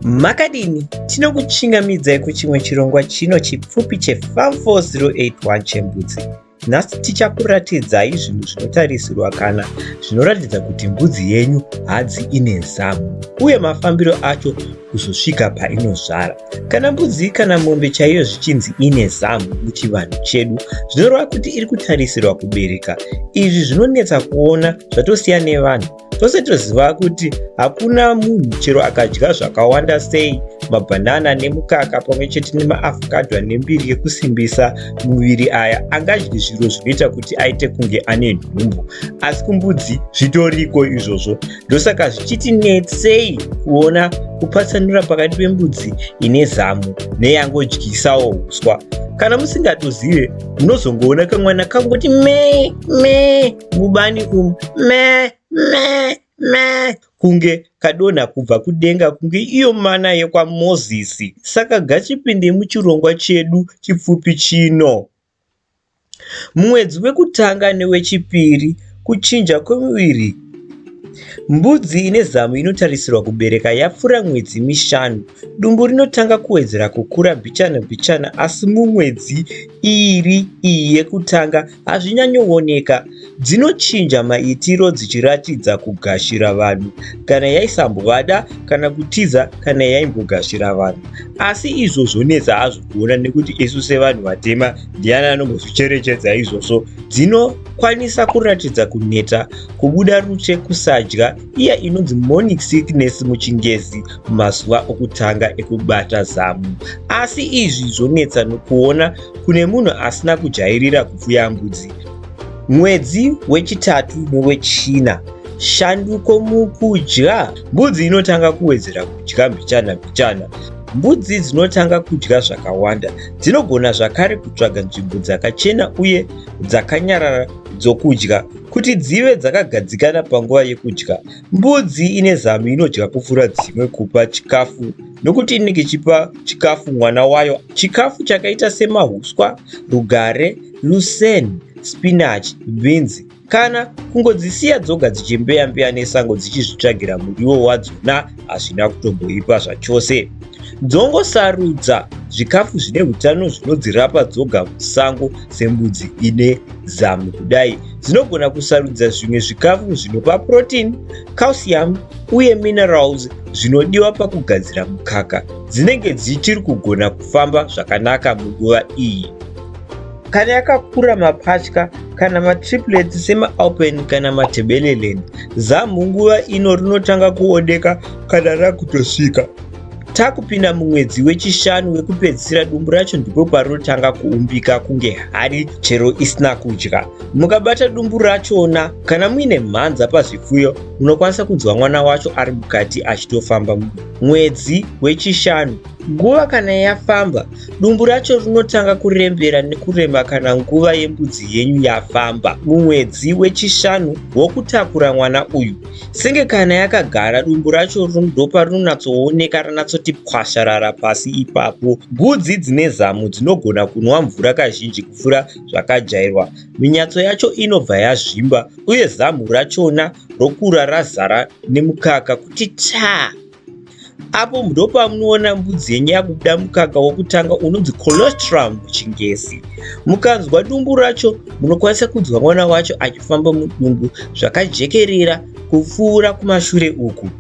Makadini? Tinokuchingamidzai kuchimwe chirongwa chino chipfupi che Farm 4081 chembudzi. Nhasi tichakuratidzai zvinhu zvinotarisirwa kana zvinoratidza kuti mbudzi yenyu hadzi ine zamu uye mafambiro acho kuzosvika painozvara. Kana mbudzi kana mombe chaiyo zvichinzi ine zamu muchivanhu chedu, zvinoreva kuti iri kutarisirwa kubereka. Izvi zvinonetsa kuona zvatosiya nevanhu tose toziva kuti hakuna munhu chero akadya zvakawanda sei mabhanana nemukaka pamwe chete nemaafokadwa nembiri yekusimbisa muviri aya angadyi zviro zvinoita kuti aite kunge ane nhumbu asi kumbudzi zvitoriko izvozvo ndosaka zvichitinetsei kuona kupatsanura pakati pembudzi ine zamu neyangodyisawo uswa kana musingatozive munozongoona kamwana kangoti me me mubani umu me me me kunge kadonha kubva kudenga kunge iyo mana yekwamozisi saka gachipinde muchirongwa chedu chipfupi chino mumwedzi wekutanga newechipiri kuchinja kwemuviri mbudzi ine zamu inotarisirwa kubereka yapfuura mwedzi mishanu dumbu rinotanga kuwedzera kukura bichana bichana asi mumwedzi iri iyi yekutanga hazvinyanyowoneka, dzinochinja maitiro dzichiratidza kugashira vanhu kana yaisambovada kana kutiza kana yaimbogashira vanhu. Asi izvo zvonetsa hazvo kuona nekuti isu sevanhu vatema ndiani anombozvicherechedza izvozvo. Dzinokwanisa kuratidza kuneta, kubuda rute, kusadya, iya inonzi morning sickness muchingezi mazuva okutanga ekubata zamu. Asi izvi zvonetsa nokuona kune munhu asina kujairira kupfuya mbudzi. Mwedzi wechitatu nowechina, shanduko mukudya. Mbudzi inotanga kuwedzera kudya mbichana mbichana. Mbudzi dzinotanga kudya zvakawanda. Dzinogona zvakare kutsvaga nzvimbo dzakachena uye dzakanyarara dzokudya kuti dzive dzakagadzikana panguva yekudya. Mbudzi ine zamu inodya kupfuura dzimwe kupa chikafu. nokuti inenge ichipa chikafu mwana wayo chikafu chakaita semahuswa, rugare, luseni, spinachi, bhinzi kana kungodzisiya dzoga dzichimbeya-mbeya nesango dzichizvitsvagira muriwo wadzona hazvina kutomboipa zvachose. Dzongosarudza zvikafu zvine utano zvinodzirapa dzoga musango sembudzi ine zamu kudai dzinogona kusarudza zvimwe zvikafu zvinopa protein calcium uye minerals zvinodiwa pakugadzira mukaka dzinenge dzichiri kugona kufamba zvakanaka munguva iyi kana yakakura mapatya kana matriplet semaalpen kana matebelelen zamhu nguva ino rinotanga kuoneka kana rakutosvika takupinda mumwedzi wechishanu wekupedzisira dumbu racho ndipo parinotanga kuumbika kunge hari chero isina kudya Mukabata dumbu rachona, kana muine mhanza pazvipfuyo, munokwanisa kunzwa mwana wacho ari mukati achitofamba mwedzi wechishanu. Nguva kana yafamba, dumbu racho rinotanga kurembera nekurema kana nguva yembudzi yenyu yafamba mumwedzi wechishanu wokutakura mwana uyu. Senge kana yakagara, dumbu racho ndopa rinonatsooneka ranatsoti pwasharara pasi ipapo. Gudzi dzine zamu dzinogona kunwa mvura kazhinji kupfuura zvakajairwa. Minyatso yacho inobva yazvimba uye zamhu rachona rokura razara nemukaka kuti taa. Apo ndopamunoona mbudzi yenyu yakubuda mukaka wokutanga unonzi colostrum muchingezi. Mukanzwa dumbu racho, munokwanisa kunzwa mwana wacho achifamba mudumbu zvakajekerera kupfuura kumashure uku.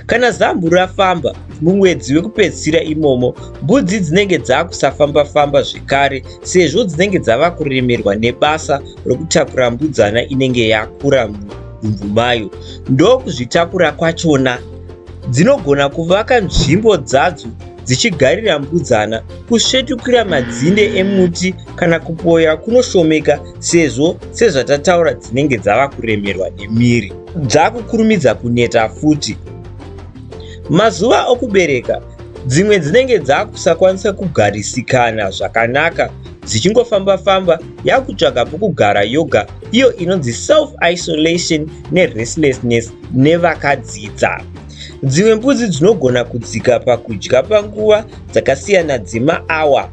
Kana zambu rafamba mumwedzi wekupedzisira imomo, mbudzi dzinenge dzakusafamba-famba zvekare sezvo dzinenge dzava kuremerwa nebasa rokutakura mbudzana inenge yakura mudumbu mayo. Ndokuzvitakura kwachona, dzinogona kuvaka nzvimbo dzadzo dzichigarira mbudzana, kusvetukira madzinde emuti kana kupoya kunoshomeka sezvo sezvatataura dzinenge dzava kuremerwa nemiri. dzakukurumidza kuneta futi. Mazuva okubereka, dzimwe dzinenge dzakusakwanisa kugarisikana zvakanaka dzichingofamba-famba yakutsvaga pokugara yoga iyo inonzi self-isolation nerestlessness nevakadzidza. Dzimwe mbudzi dzinogona kudzika pakudya panguva dzakasiyana dzemaawa.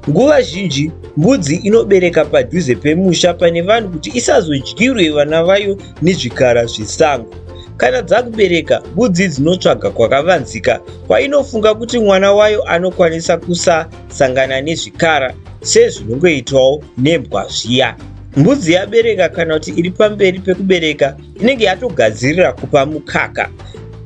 Nguva zhinji mbudzi inobereka padhuze pemusha pane vanhu kuti isazodyirwe vana vayo nezvikara zvesango. Kana dzakubereka, mbudzi dzinotsvaga kwakavanzika kwainofunga kuti mwana wayo anokwanisa kusasangana nezvikara sezvinongoitwawo nembwa zviya. Mbudzi yabereka kana kuti iri pamberi pekubereka inenge yatogadzirira kupa mukaka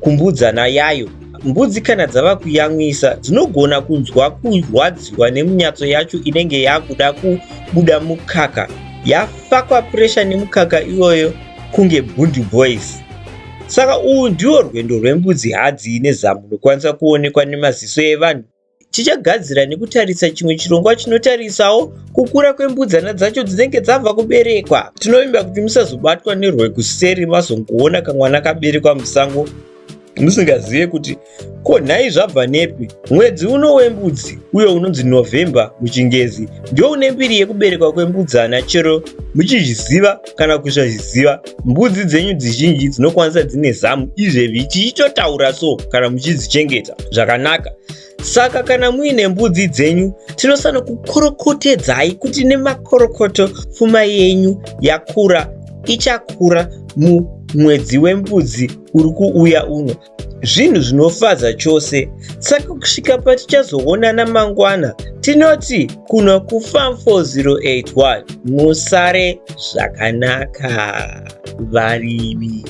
kumbudzana yayo. Mbudzi kana dzava kuyamwisa dzinogona kunzwa kurwadziwa nemunyatso yacho inenge yakuda kubuda mukaka yafakwa puresha nemukaka iyoyo kunge bundi boys saka uhu ndiwo rwendo rwembudzi hadzii nezamu rwokwanisa kuonekwa nemaziso evanhu tichagadzira nekutarisa chimwe chirongwa chinotarisawo kukura kwembudzana dzacho dzinenge dzabva kuberekwa tinovimba kuti musazobatwa nerwekuseri mazongoona kamwana kaberekwa musango musingazive kuti ko nhai zvabva nepi mwedzi uno wembudzi uyo unonzi november muchingezi ndio une mbiri yekuberekwa kwembudzana chero muchizviziva kana kusazviziva mbudzi dzenyu dzizhinji dzinokwanisa dzine zamu izvezvi tichitotaura so kana muchidzichengeta zvakanaka saka kana muine mbudzi dzenyu tinosana kukorokotedzai kuti nemakorokoto pfuma yenyu yakura ichakura mumwedzi wembudzi uri kuuya uno zvinhu zvinofadza chose saka kusvika patichazoonana mangwana tinoti kuno kufam 4081 musare zvakanaka varimi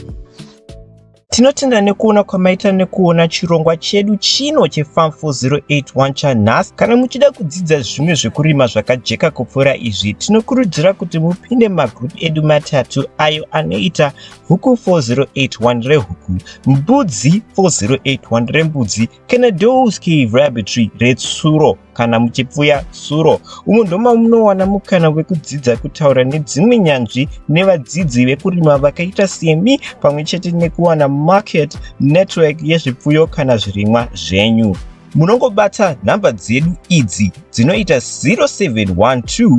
tinotenda nekuona kwamaita nekuona chirongwa chedu chino chefam 4081 chanhasi kana muchida kudzidza zvimwe zvekurima zvakajeka kupfuura izvi tinokurudzira kuti mupinde mumagroup edu matatu ayo anoita huku 4081 rehuku mbudzi 4081 rembudzi kana dows cave rabbitry retsuro kana muchipfuya tsuro umo ndoma munowana mukana wekudzidza kutaura nedzimwe nyanzvi nevadzidzi vekurima vakaita semi pamwe chete nekuwana market network yezvipfuyo kana zvirimwa zvenyu munongobata nhamba dzedu idzi dzinoita 0712